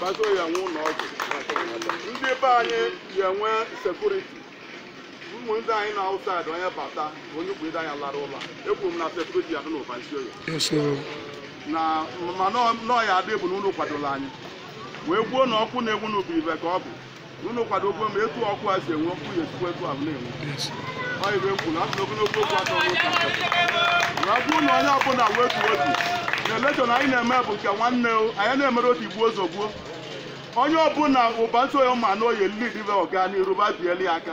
Bazo ya enwe ụlọ ọgwụ. Ndị be anyị ya enwe sekuriti. Ụmụ ndị anyị na outside onye bata onye bụ ndị anyị lara ụlọ. Ekwuru m na sekuriti ya dị n'ụba isi oyi. Yes, oh. na ma nọọ ya adị bụ na unu kwadola anyị wee gwuo na ọkụ na-enwu n'ubi ive ka ọ bụ unu kwadokwe ma etu ọkụ a si enwe ọkụ ya esikwa etu ahụ na-enwe ọ ive m kwuru asị na ogologo okwu adịrọ n'ụka wee bụrụ na onye ọbụla wetuo obi na elekshọn anyị na-eme bụ nke nwanne o anyị na-emere o tigbuo zogbuo onye ọbụla ụba isi oye ma na ọ ya lead ọganiru ba bieli aka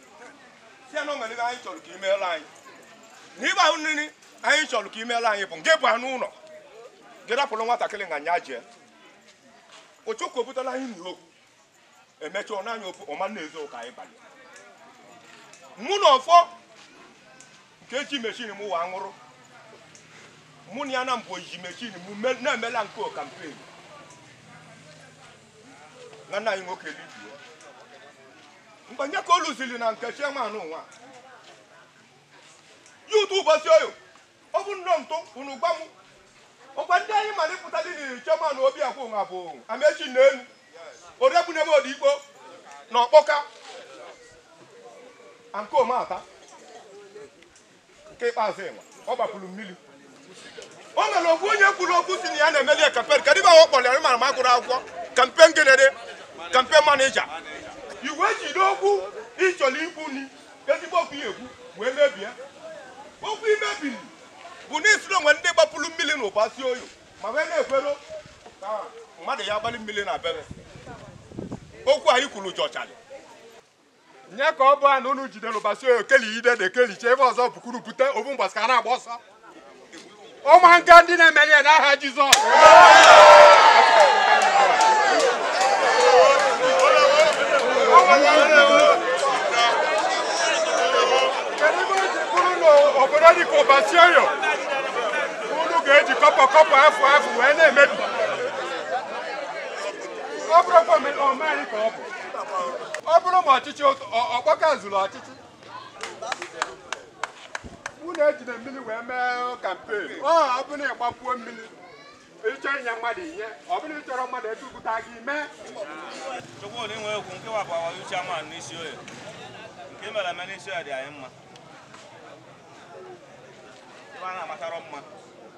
ya na o nwere ihe anyị chọrọ ka imeela anyị n'ive ahụ nri anyị chọrọ ka imeela anyị bụ nke bụ anụ ụlọ gị rapụrụ nwatakịrị nga nya jee ịchọ ọkụ obutala anyị nri okwu emecha ọ naanị ofu ọma na-ezo ụka anyị banye mụ na ọfọ nke ji meshin m wa ṅụrụ mụ na ya na mbụ ji meshin m me- na-emela nke kampen nwanne anyị nwoke Livi mgbe nye ka o lụziri na nke chairman ụwa ya ụtụ ụbọchị oyo ọ bụ nnọọ ntụ unu gwa m ọkwa ndị anyị mara ịpụta dị n'iri chairman Obiakọ nwa bụ Amechi na elu oregbunebe odigbo na ọkpọka nke ọmata nke ikpeazụ ịnwa ọ gbapụrụ mmiri o nwere okwu onye kwuru okwu si na ya na-emeli kampen kedụ ive ahụ kpọrọ ya mara ma gụrụ akwụkwọ kampen gịnịrị kampen manija i wee jiri okwu ịchọrọ ikwu ni ezigbo okwu ya ekwu wee mebie okwu imebiri bụ na i si na o nwe ndị gbapụrụ mmiri na ụba si oyi ma wee na-ekwero ka mmadụ ya gbalị mmiri na bere okwu anyị kwuru jụchara nye ka ọ bụ a na unu jidere ụbasi oyo keligide na ekelicha ebe ọzọ bukuru bute obu mgbasa ka a na-agba ọsọ ụmụ nka ndị na-emeli ya n'aha Jizọs kedu ebe o ji bụrụ na obodo dị ka ụbasi oyo unu ga-eji kọpọ kọpọ afọ afọ wee na-emebi ọ bụrụkwa omenala ka ọ bụ ọ bụrụ ma ọchịchị ụtọ- ọ- ọkpọka zuru ọchịchị unu ejide mmiri wee mee kampen ọ ọ bụrụ na ịgbapuo mmiri ịchọ inye mmadụ ive ọ bụrụ na ị chọrọ mmadụ edupụta gị mee Chukwu na inwe okwu nke wapụ awa chairman n'isi oye nke mere eme n'isi oye dị anyị mma. Ibe a na-agbatara mma.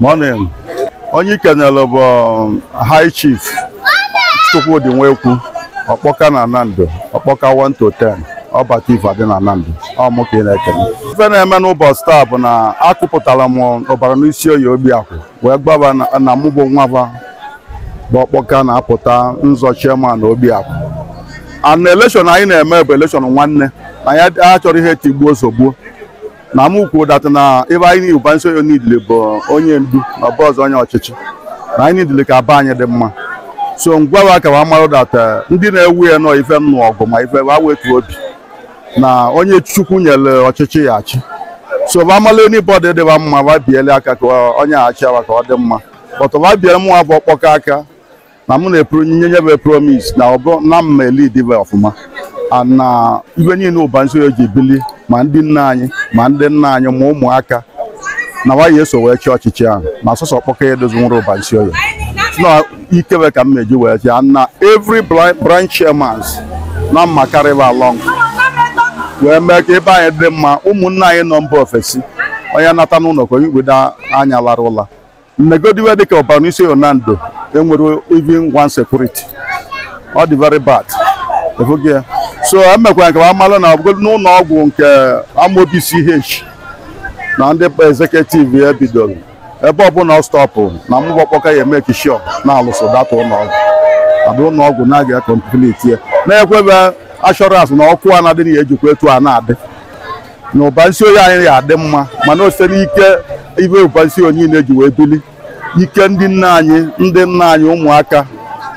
morning onye i kenere bụ um, high chief chukwudi nwekwu ọkpọka na nando ọkpọka 1 to 10 ọbata ife adị na nando ọ mụ ka ị na-ekele ife na-eme n'ụbọchị taa bụ na akụpụtara m ụbarụnisioye obi akwụ wee gwa ba na- na mụ bụ nwa ba bụ ọkpọka na-apụta nzọ chairman obi akwụ and election anyị na-eme bụ election nwanne na ya achọrọ ihe tigbuo zọgbuo na mụ kwuo that na ibe anyị niile bụ nso nidile bụ onye ndu na ọbụ ọzọ onye ọchịchị na anyị nidile ka ebe anyị dị mma so m gwa wa ka wa marụ that ndị na-ewu ya nọ ife nnụ ọgụ ma ife wa wetu obi na onye chukwu nyere ọchịchị ya achị so ba mala anybody dị ba mma ba biele aka ka onye a chịa wa ka ọ dị mma but ba biele mụnwa bụ ọkpọka aka na mụ na-epro nye nye ba promise na ọ bụ na m ma-elead ibe ọfụma and na ibe niile ụbansioye ji bili ma ndị nne anyị ma ndị nna anyị ma ụmụaka na wa ya-eso wee chịa ọchịchị ahụ na sọsọ ọkpọka ya edozinwurọ ụbansioye ike we ka m ma-eji wee chịa na every bri- branch chairmans na m ma-acarry ba along wee mee ka ebe anyị dị mma ụmụnne anyị nọ mba ofesi onye nata n'ụlọ ka onye pido anya lara ụla mmegodiwe dịka ụbansioye nando enwerọ even one security ọ dị very bad ị fụgo ya so emekwa m ka wa malụ na ọbụgo n'ụlọ ọgwụ nke amobi ch na ndị executive ya bidoro ebe ọbụla ọ stọpụ na mụ bụ ọkpọka ya-emake sure na a lụsịa that ụlọọgwụ and ụlọọgwụ na-aga ya complete ya na-ekwe ba assurance na ọkụ a na-adị na ya ejikwa etu a na-adị na ụbansioye anyị ya-adị mma mana o site n'ike ibe ụbansioye niile ji wee bili ike ndị nna anyị ndị nna anyị ụmụaka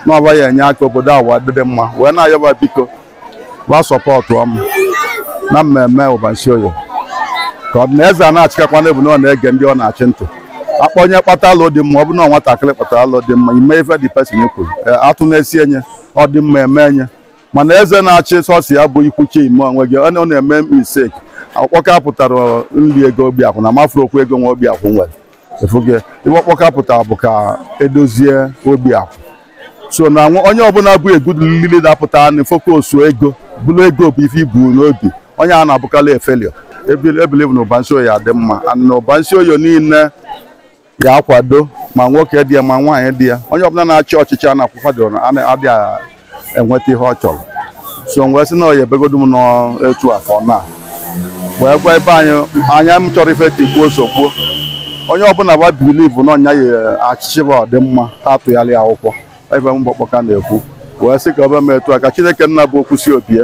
na ba ya-enye aka obodo a wee dịrị mma wee na-ayọ ba biko ba supportuo m na m ma-eme ụbansioye ka ọ dị na eze a na-achịkakwa n'ebu na ọ na-ege ndị ọ na-achị ntị akpọ onye kpata alọ dị mma ọ bụ na nwatakịrị kpatara alọ dị mma e mee ife the person kwuru ee, atụ na-esi enye ọ dị mma eme enye mana eze na-achị sọsọ ya bụ ikwuchi ime onwe gị ọ na- ọ na-eme mistake ọkpọka apụtarọ nri ego obi akwụ na m afụrọ okwu ego nwa obi akwụ nwere ị fụgo ife ọkpọka pụtara bụ ka edozie obi akwụ so na nwa- onye ọbụla bụ a good li- leader pụta na focus ego bụrụ ego bụ ife i bu n'obi onye a na-abụkarị a failure I believe na ụbansioye ya-adị mma and na ụbansioye niile ya-akwado ma nwoke dị ya ma nwaanyị dị ya onye ọbụla na-achị ọchịchị a na-akwadorọ adịghị enweta ihe ọ chọrọ so m wee sị na ọ ya ebegodu m n'etu afọ na wee gwa ebe anyị anya m chọrọ ife tigbuo zọgbuo onye ọbụla ga-bilivu na ọnya ya achịchị bụ ọdịmma ha atụgharị akwụkwọ ebe m gbakpọka na-ekwu wee sị ka ọ be m etu a ka chineke nna bụ okwu sị o bie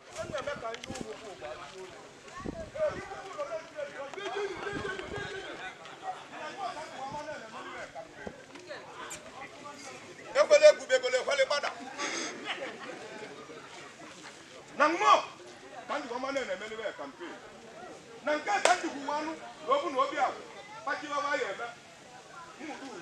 ekwele ebube ekwele ekwele gbada na mmụọ ka ndị ọma na-emeli wee kampen na nke ka ndị kwuwa anụ na obu na obi ahụ kpachiri ọba ya eme mmụta uru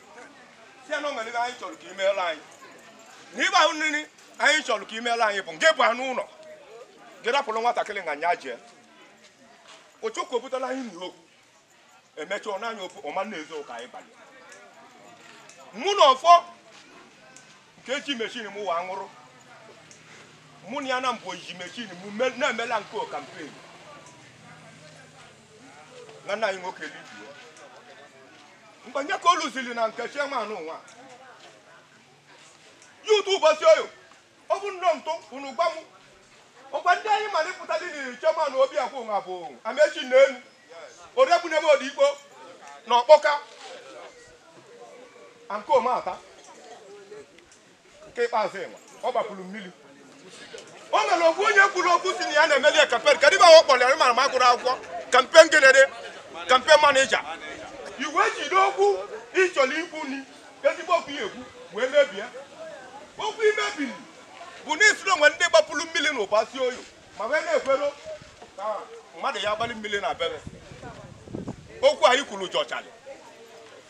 si ya na o nwere ihe anyị chọrọ ka imeela anyị na ịgba ahụ nri anyị chọrọ ka imeela anyị bụ nke bụ anụ ụlọ gị rapụrụ nwatakịrị nga nya jee ochukwu obutala anyị n'okwu emecha ọ naanị ofu ọma na-ezo ụka anyị banye mụ na ọfọ nke echi mechin m wa nwụrụ mụ na ya na mbụ oyiyi mechin m me- na-emela nke kampen na nna anyị nwoke libie mgbe nye ka o lụziri na nke chairman nwa youth ụbasi oyo ọ bụ nnọọ ntụ unu gwa m ọkwa ndị anyị mara ịpụta dị n'iri chairman obi akwụ nwa bụ amechi n'elu orebunebe odikpo na ọkpọka ankomata nke ikpeazụ ịnwa ọ gbapụrụ mmiri o nwere okwu onye kwuru okwu si na ya na-emeli kampen kedụ ive a kpọrọ ya mara ma gụrụ akwụkwọ kampen gịnịdị kampen manija i wee jide okwu ị chọrọ ikwu ni ezigbo okwu ya ekwu wee mebie okwu i mebiri bụ na i sịrị o nwe ndị gbapụrụ mmiri na ụbasi oyo ma wee na-ekwero ka mmadụ ya gbalị mmiri na bere okwu anyị kwuru jọchara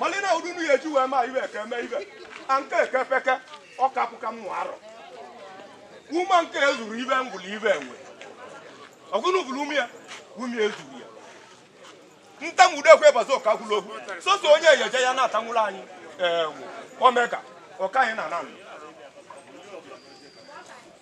mali na ụdị n'ihe eji wee ma ive eke eme ive a nke eke peke ọ kapụ ka mmụ arọ ume nke ezuru ive gbulu ive enwe ọgụnụ bụrụ ume ya ume ezuru ya ntanwude ekwe bazi ọka gwụrụ okwu soso onye eyeje ya na-atanwụrụ anyị enwe omega ọka anyị na nanụ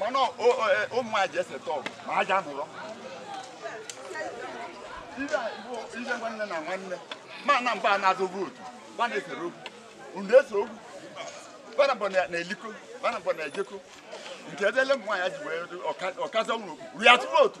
mana ụmụ nwaanyị ji eseta ọgụ ma aja nụrọ ihe nwanne na nwanne mana ba na-azụ vootu ba na-esere okwu unu ese okwu ba na mbọ na-eliko ba na mbọ na-ejeko nke ebe ele ụmụ nwaanyị ji wee ọkazi ọgụ ruo ya tụrụ otu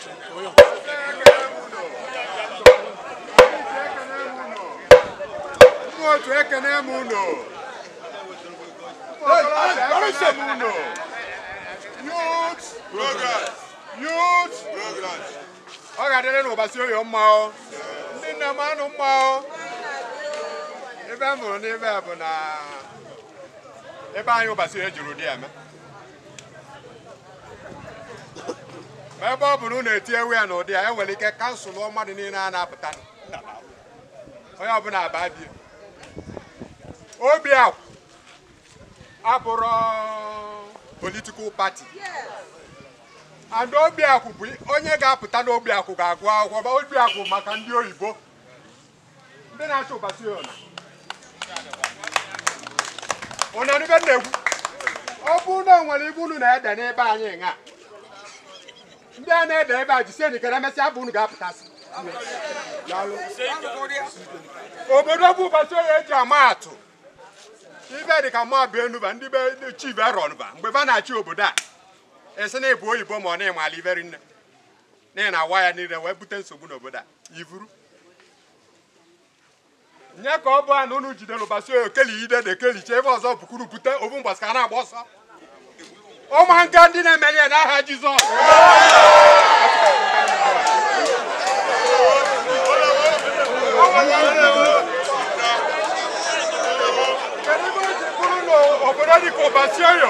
otu ekene m unu ọ ga-adịrị ụbasi oyo mma ndị nna m anụ ma ive m hụrụ n'ebe a bụ na ebe anyị ụbọchị ejuru dị eme ma ebe ọ bụ na unu etinyewe ya n'ụdị ya enwere ike kansụl mmadụ niile a na-apụta onye ọbụna aba bie obi akwụ abụrọ political party and obi akwụ bụ onye ga-apụta n'obi akwụ ga-agụ akwụkwọ obi akwụ maka ndị oyibo ndị na-achọ Ụbasioye ụna n'ibe m na-ekwu ọ bụrụ na o nwere ibe unu na-ede n'ebe anyị ṅa ndị a na-ede ebe a jisie n'ike na emesịa bụ unu ga-apụtasị obodo bụ Ụbasioye eji ama atụ ibe dị ka mmadụ enuba ndị be ndị chief erọnba mgbe ba na-achị obodo a esi na ịbụ oyibo ma ọ na-ịmala iberi nne n'ihi na awa ya niile wee bute nsogbu n'obodo a ivuru nye ka ọ bụ a na unu jidere Ụbasioye keli ide na ekelicha ebe ọzọ bukuru bute obu mgbasa ka a na-agba ọsọ ụmụ nka ndị na-emeli ya n'aha Jizọs kedu ebe o ji bụrụ na obodo dịka Ụbasioye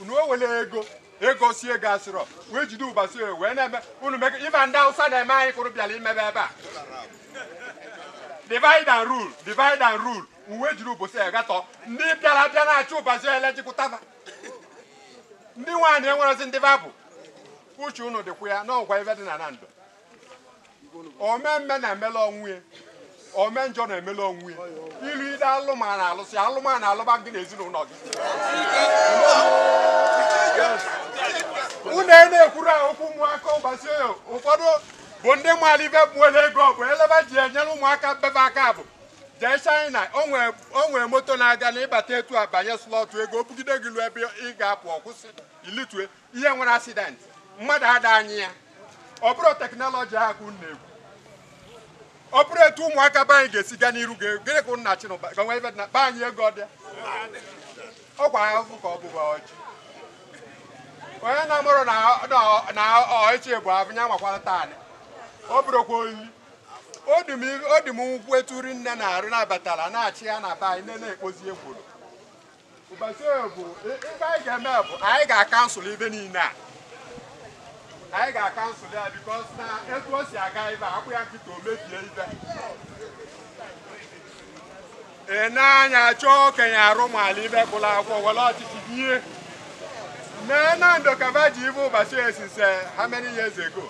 unu ewele ego si ego asịrọ wee jide Ụbasioye wee na-eme unu mega ife ndị awụsa na-eme anyị kụrụ bịara imebe ebe a divide and rule divide and rule uwe jiri Ụbasioye gatọ ndị bịara bịa na-achị Ụbasioye elejikụtaba ndị nwaanyị enwerezi ndị babụ uche unu dịkwa ya n'ọgwa ife dị na Nando ome mma na-emela onwe ya ome njọ na-emela onwe ya ilu ide alụmana alụsị alụmana alụba gị na ezinụlọ gị unu e na-ekwuru a okwu ụmụaka Ụbasioye ụfọdụ bụ ndị maara ibe gbuola ego bụ ele ba ji enyere ụmụaka be ba aka bụ jee China o nwee moto na-aga na ịbata etu a banye slọtụ ego o bugide gị lu ebe ị ga-apụ ọkwụsị ilitue ihe nwere accident mmadụ ada anyị ya ọ bụrụ teknọlọji ahụ ka unu na-ekwu ọ bụrụ etu ụmụaka be anyị ga-esi gaa n'iru ga- gịnị ka nna chinụba ka nwa ibe na be anyị ego ọbịa ọ kwa ahụhụ ka ọ bụba ọjị onye na-amụrụ na na- na ọchị bụ ahụ ya nwakwara taanị ọ bụrụkwa oyi o dị m o dị m ụkwụ eturi nne na-arụ na-abatala na-achị ya na be anyị nne na-ekpozi ekworo Ụbasioye bụ ife anyị ga-eme bụ anyị ga-akansụl ibe niile a anyị ga-akansụl ya because na etu o si aga ibe akwụ ya nkịta o mebie ibe ị na-anya chọọ okenye arụ maala ibe gụla akwụkwọ were ọchịchị bie mee Nando ka ba ji ibe Ụbasioye esise how many years ago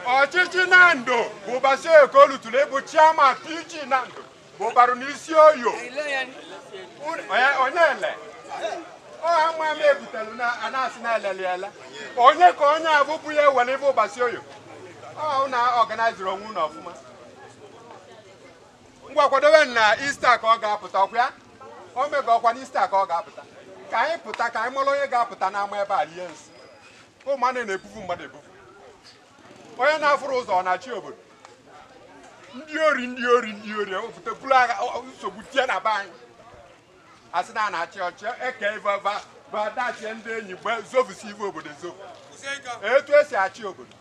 ọchịchị Nando bụ Ụbasioye ka o lutụrụ ịbụ chairman PG Nando bụbarụ n'isi oyo onye onye ele ọha mma m ebutelu na a na-asị na eleliela onye ka onye a bụbụ ya ewere ibe ụbasi oyo ọhụ na ọganaiziri onwe unu ọfụma ngwa kwadobe na ista ka ọ ga-apụta ọkwa ya o mega ọkwa na ista ka ọ ga-apụta ka anyị pụta ka anyị mara onye ga-apụta n'ama ebe a rie nsị ụmụ anụ na-ebufu mmadụ ebufu onye na-afụrụ ụzọ ọ na-achị obodo ndị ori ndị ori ndị ori ewepụta buru agha ọ- ọ- nsogbu tie na be anyị asị na a na-achị ọchị eke ife ba ba dachie ndị enyi gbe zovusi ife obodo ezovu etu esi achị obodo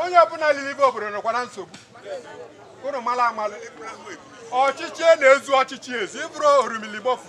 onye ọbụla liri ife obodo nọkwa na nsogbu unu mara amalụ ọchịchị na-ezu ọchịchị ezi ịbụrụ orimiligbofu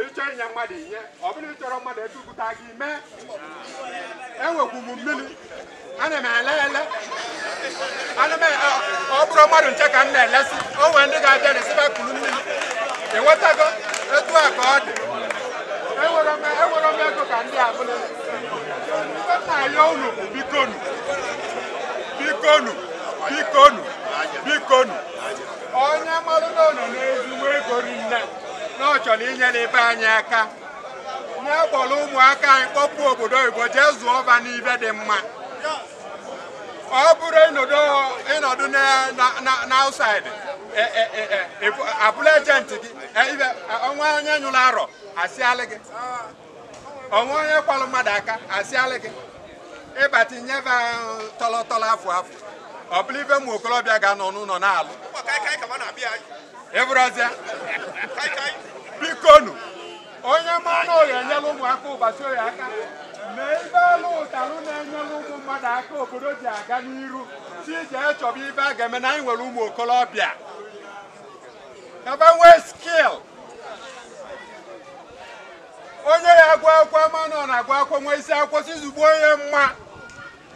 ị chọọ inye mmadụ ihe ọ bụrụ ị chọrọ mmadụ ebe ugwuta gị mee enwekwu m mmiri ana m ele ele ana m ele ọ bụrụ mmadụ ncha ka m na-elesi o nwere ndị ga-abịa a sị ba kuru mmiri enwetago etu a ka ọ dị enwere m enwere m ego ka ndị ọbụla ife m na-ayọ unu bụ bikonu bikonu bikonu bikonu onye malụ na o nwe ezigbo ego rinne na ọ chọrọ inyere ibe anyị aka na akpọrọ ụmụaka anyị kpọpụ obodo oyibo jee zụọ ba n'ive dị mma ọ bụrụ ịnọdụ ịnọdụ na- na- na- na outside e- e- e- e- ịbụ- abụrụ ejenti gị e- ibe- o nwe onye nyụrụ arọ asịalị gị o nwe onye kwalụ mmadụ aka asịalị gị ị bata nyebe tọlọ tọlọ afụ afụ ọ bụrụ ive ụmụ okorobịa ga-anọ n'ụlọ na-alụ ịbụrụzịa bikonu onye ma na ọ ya-enyela ụmụaka ụbasi oyo aka mee ive a lụtalụ na-enyela ụmụ mmadụ aka obodo ji aga n'iru si jee chọba ive a ga-eme na anyị nwere ụmụ okorobịa ka ba nwee skil onye ya agụ akwụkwọ a ma na ọ na-agụ akwụkwọ nwee isi akwụkwọ si zugbo onye mma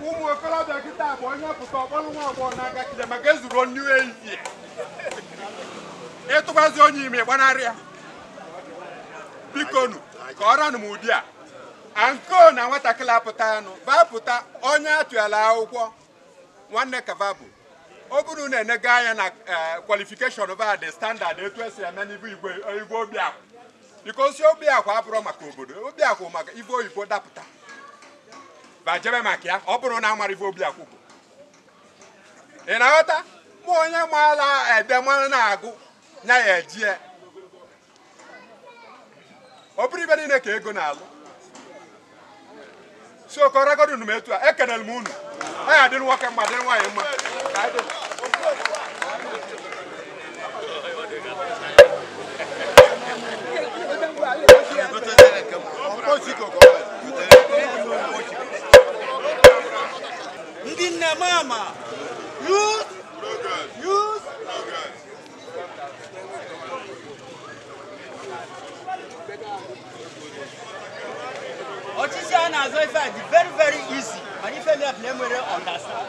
ụmụ okorobịa kịta bụ onye pụta ọ kpọrọ nwa agbọghọ n'aka kide maka ezuru nnu ehihie ị tụbazi onye ime gbanarị ya bikonu ka ọ ranụ m ụdị a anko na nwatakịrị apụta anụ bapụta onye atụyala akwụkwọ nwanne ka va bụ ọ bụrụ na enega anya na kwalifikeshọn eh, ba dị standard etu esi eme n'ibu igwe igwe obiakwụ bikosi obiakwụ abụrụ maka obodo obiakwụ maka ive oyibo dapụta ba jebe maka ya ọ bụrụ na a mara ive obiakwụ bụ ị na-aghọta ma onye maala ede mara na-agụ nya ya ejie ọ bụrọ ife niile ka ego na-alụ so ka ọ ragodu unu m etu a ekenere m unu ọ ya-adịrị nwoke mma dịrị nwaanyị mma ka anyị dị ọchịchị a na-azọ ife a dị very very easy mana ife mere na enwerọ understand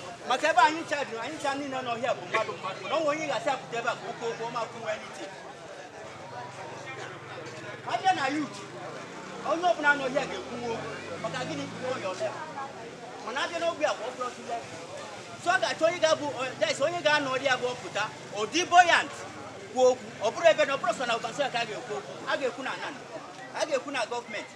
maka ebe anyị ncha dị anyị ncha niile nọ here bụ mmadụ mmadụ mana o nwee onye a ga-asị pụta ebe a ka o kwuo okwu ọ ma kwuwe n'ite a bịa na youth onye ọbụla nọ here ga-ekwuwe okwu maka gịnị kwuwe onye ọbịa mana a bịa n'ogbe a bụ ọbụla ọtụle so ọ ga-achọ onye ga-abụ des onye ga-anọ ọdị ya bụ ọ pụta ọ dị buoyant kwuo okwu ọ bụrụ ebe na ọ bụrọ sọ na Ubarunisioye ka a ga-ekwu okwu a ga-ekwu na Nando a ga-ekwu na gọọmenti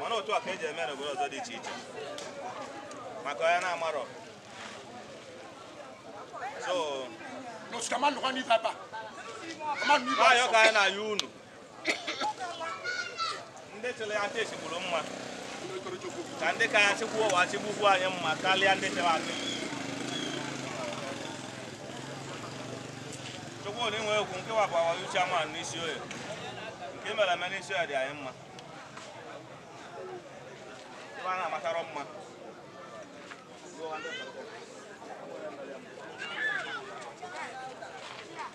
mana otu a ka eji eme n'obodo ọzọ dị iche iche maka onye na-amarọ so nwaanyị ka anyị na-ayọ unu ndị chịrị achị chịburu mma ka ndị ka achị ugbu a achịbukwu anyị mma karịa ndị chịrị achị chukwu na inwe egwu nke wapụ awa uche ama n'isi oye nke mere eme n'isi oye dị anyị mma ebe a na-amatara mma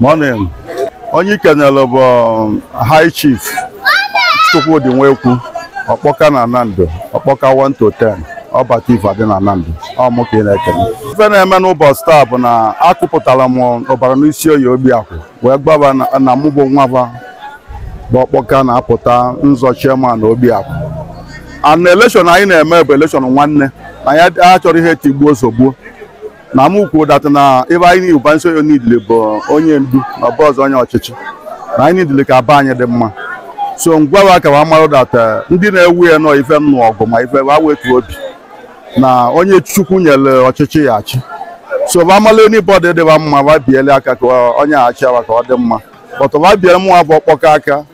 Morning. Onye ị kenere bụ um, High Chief Chukwudi Nwekwu Ọkpọka na Nando Ọkpọka 1 to 10 ọbata ife adị na Nando ọ mụ ka ị na-ekene ife na-eme n'ụbọchị taa bụ na akụpụtara m Ubarunisioye obi akwụ wee gbaba na- na mụ bụ nwa ba bụ ọkpọka na-apụta ịzọ chairman obi akwụ and election anyị na-eme bụ election nwanne na ya achọrọ ihe tigbuo zogbuo na m kwuo that na ebe anyị niile Ubarunisioye nidile bụ onye ndu na obu ụzọ onye ọchịchị na anyị nidile ka be anyị dị mma so ngwa ka wa marụ that ndị na-ewe iwe na ife nnụ ọgụ ma ife wa wetu obi na onye chukwu nyere ọchịchị ya achị so ba mala anybody dị ba mma ba biele aka ka onye achị wa ka ọ dị mma but ba biele mụ a bụ Ọkpọka aka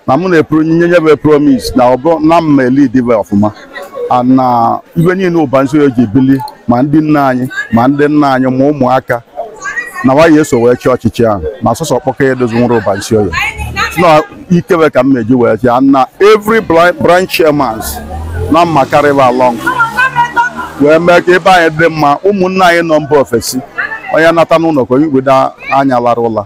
na mụ na-epro nye nye bụ promise na ọ bụ na m ma-elead be ọfụma a na ive niile ubarunisioye ji bili ma ndị nne anyị ma ndị nna anyị ma ụmụaka na wa eso wee chịa ọchịchị ahụ na sọsọ ọkpọka ya edozi nwere ubarunisioye na ike be ka m na-eji wee chịa na every bri- branch chairmans na m ma-carry va along wee mee ka ebe anyị dị mma ụmụnne anyị nọ mba ofesi onye nata n'ụlọ ka onye igbodo anya lara ụla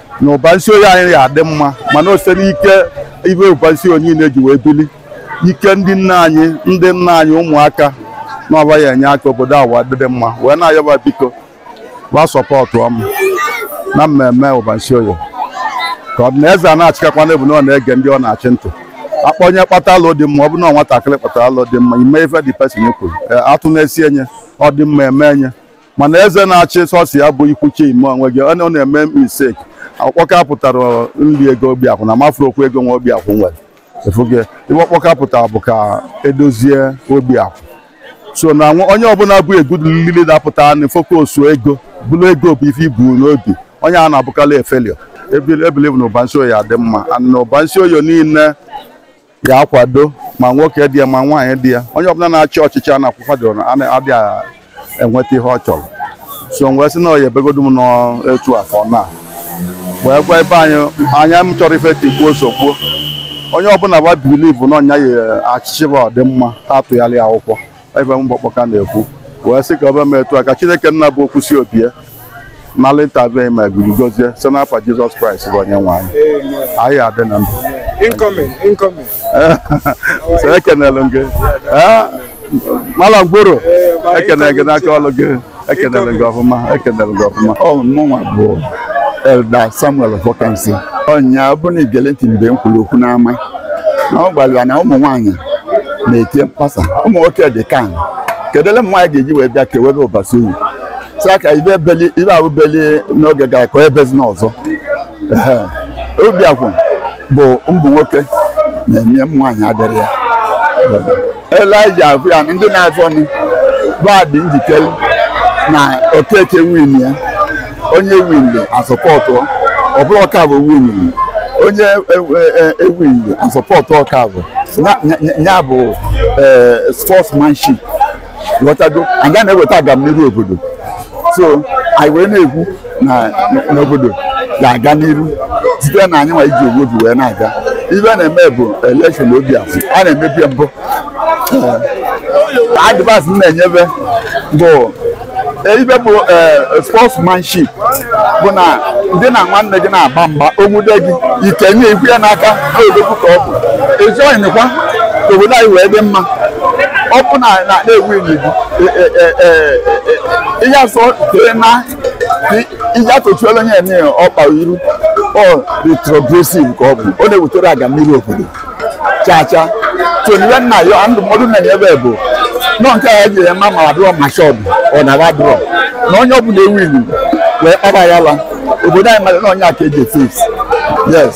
na ubarunisioye anyị ga-adị mma mana o si n'ike ive ubarunisioye niile ji wee bili ike ndị nne anyị ndị nna anyị ụmụaka na ọ va ya-enye aka obodo a wee dịrị mma wee na-ayọ va biko va supportụọ mụ na m ma-eme ubarunisioye ka ọ bụ na eze a na-achịkakwa n'ebu na ọ na-ege ndị ọ na-achị ntị akpọ onye kpata alo dị mma ọ bụ na nwatakịrị kpatara alo dị mma e mee ife the person kwuru atụ na-esi enye ọ dị mma eme enye mana eze na-achị sọsọ ya bụ ikwu chima onwe gị ọ na- ọ na-eme mistake ọkpọka pụtara nri ego obi akwụ na mafuru okwu ego nwa obi akwụ nwere efuge ive ọkpọka pụtara bụ ka edozie obi akwụ so na nwa- onye ọbụla bụ a good leader na-apụta na focus ego bụrụ ego bụ ife i bu n'obi onye a na-abụkarị a failure I believe na ubarunisioye adị mma and na ubarunisioye niile ya akwado ma nwoke dị ya ma nwaanyị dị ya onye ọbụla na-achị ọchịchị a na-akwụkwadoro na ana- adịghị enweta ihe ọ chọrọ so m wee sị na ọ ya ebegodu m n'etu a ka ọ na wee gwa ebe anyị anya m chọrọ ife tigbuo zọgbuo onye ọbụla va believe na onye ya achịchị va ọdịmma a tụnyelụ ya akwụkwọ ive m bụ ọkpọka na-ekwu wee sị ka o bee m etu a ka chineke nna bụ okwu si obi ya nala interview m a gụrụ gozie site n'afa jizọs kraịst bụ onye nwe anyị anyị adị na ndụ Incoming, incoming. so ekenelụ m gị Eh, mala ngworo ekene gị n'aka ọlụ gị ekenere gị ọfụma ekenere gị ọfụma ọ mụnwa bụ elda samuel ọfọkansị ọnya ọ bụrụ na i gelụ ntị mgbe m kwuru okwu n'ama na ọ gwara ya na ụmụ nwaanyị na-eti mkpasa ụmụ nwoke dị calm kedu ele ụmụ nwaanyị ga-eji wee bịa kewebe ubarunisioye sị aka ibe ebeli ibe ahụ beli n'oge gara ka o ebezina ọzọ Ehe. obi akwụ bụ ụmụ nwoke na-enye m nwaanyị adịrị ya elija abụ ya na ndị na-azọ nụ va dị njikere na okeke win ya onye ewinrọ asupportụọ ọ bụrụ okafọ win onye ewinrọ asupportụọ okafọ nya bụ sportsmanship ghọtago anyị ga na-eweta agamniru obodo so anyị wee na-ekwu na n'obodo ga-aga n'iru site na anyị nwa iji ofu obi wee na-aga ive a na-eme bụ elekshọn obi afọ a na-emebi mbụ advice m na-enyebe bụ ive bụ sportsmanship bụ na ngị na nwanne gị na-agba mgba o nwude gị i kwenye i kwe ya n'aka na odogwu ka ọ bụ ejoinkwa ka obodo anyị wee dị mma ọ bụ na na e winie gị ihe asọ tere na ihe atụchuola onye eme ọkpa iru ọ retrogressive ka ọ bụ ọ na-ewetere agamniru obodo chaa chaa toniwe nna ya ndụmọdụ na-enyebe bụ nọ nke a ji eme ma adụrọ ma shọd ọ nara adụrọ na onye ọ bụla e winie wee kpara ya la obodo anyị mara na onye aka eji efes yes